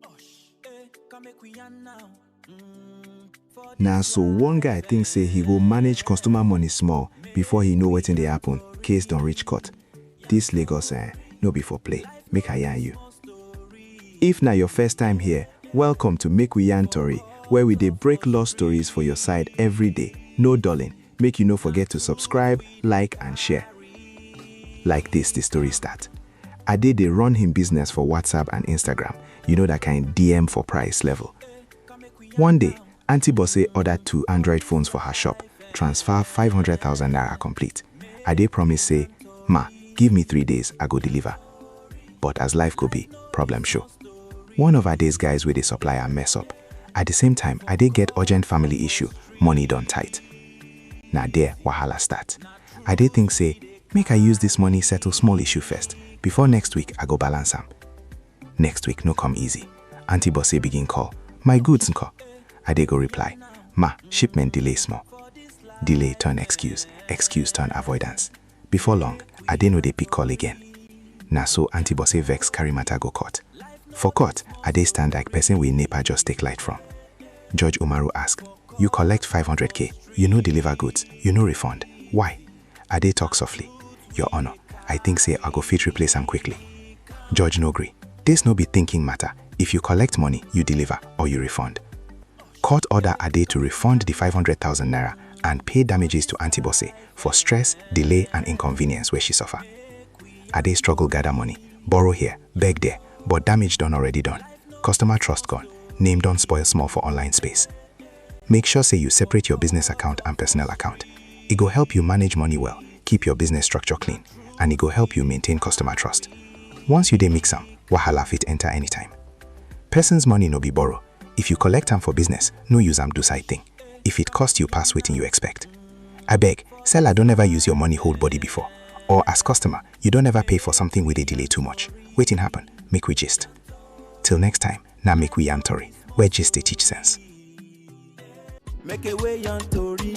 Osh, eh, come make we yarn now. Mm, for Na so one guy think say he go manage customer money small before he know wetin dey happen, case don reach court. This Lagos eh, no be for play, make I yarn you. If na your first time here, welcome to Make We Yarn Tori, where we dey break law stories for your side every day. No dulling, make you no forget to subscribe, like and share. Like this the story start. Ade dey run him business for WhatsApp and Instagram, you know that kind DM for price level. One day, Aunty Bose order two Android phones for her shop, transfer five hundred thousand naira complete. Ade promise say, Ma, give me three days, I go deliver. But as life go be, problem show. One of Ade's guys wey dey supply am mess up. At the same time, Ade get urgent family issue, money don tight. Na there wahala start. I dey think say make I use this money settle small issue first before next week I go balance am. Next week no come easy, Aunty Bose begin call, my goods nko? I dey go reply, ma, shipment delay small. Delay turn excuse, excuse turn avoidance. Before long, I dey no dey pick call again. Na so Aunty Bose vex carry matter go court. For court, I dey stand like person wey NEPA just take light from. Judge Umaru ask, You collect five hundred k, you no deliver goods, you no refund, why? Ade talk softly, Your Honour, I think say I go fit replace am quickly. Judge no gree, This no be thinking matter, if you collect money, you deliver or you refund. Court order Ade to refund the five hundred thousand naira and pay damages to Aunty Bose for stress, delay and inconvenience wey she suffer. Ade struggle gather money, borrow here, beg there, but damage don already done, customer trust gone, name don spoil small for online space. Make sure say you separate your business account and personal account. E go help you manage money well, keep your business structure clean, and e go help you maintain customer trust. Once you dey mix am, wahala fit enter anytime. Person's money no be borrow. If you collect am for business, no use am do side thing. If it cost you pass wetin you expect. Abeg, seller don never use your money hold body before, or as customer, You don't ever pay for something with a delay too much. Waiting happen, make we gist. Till next time, now make we yarn tori, where gist dey teach sense. Make a way on Tori.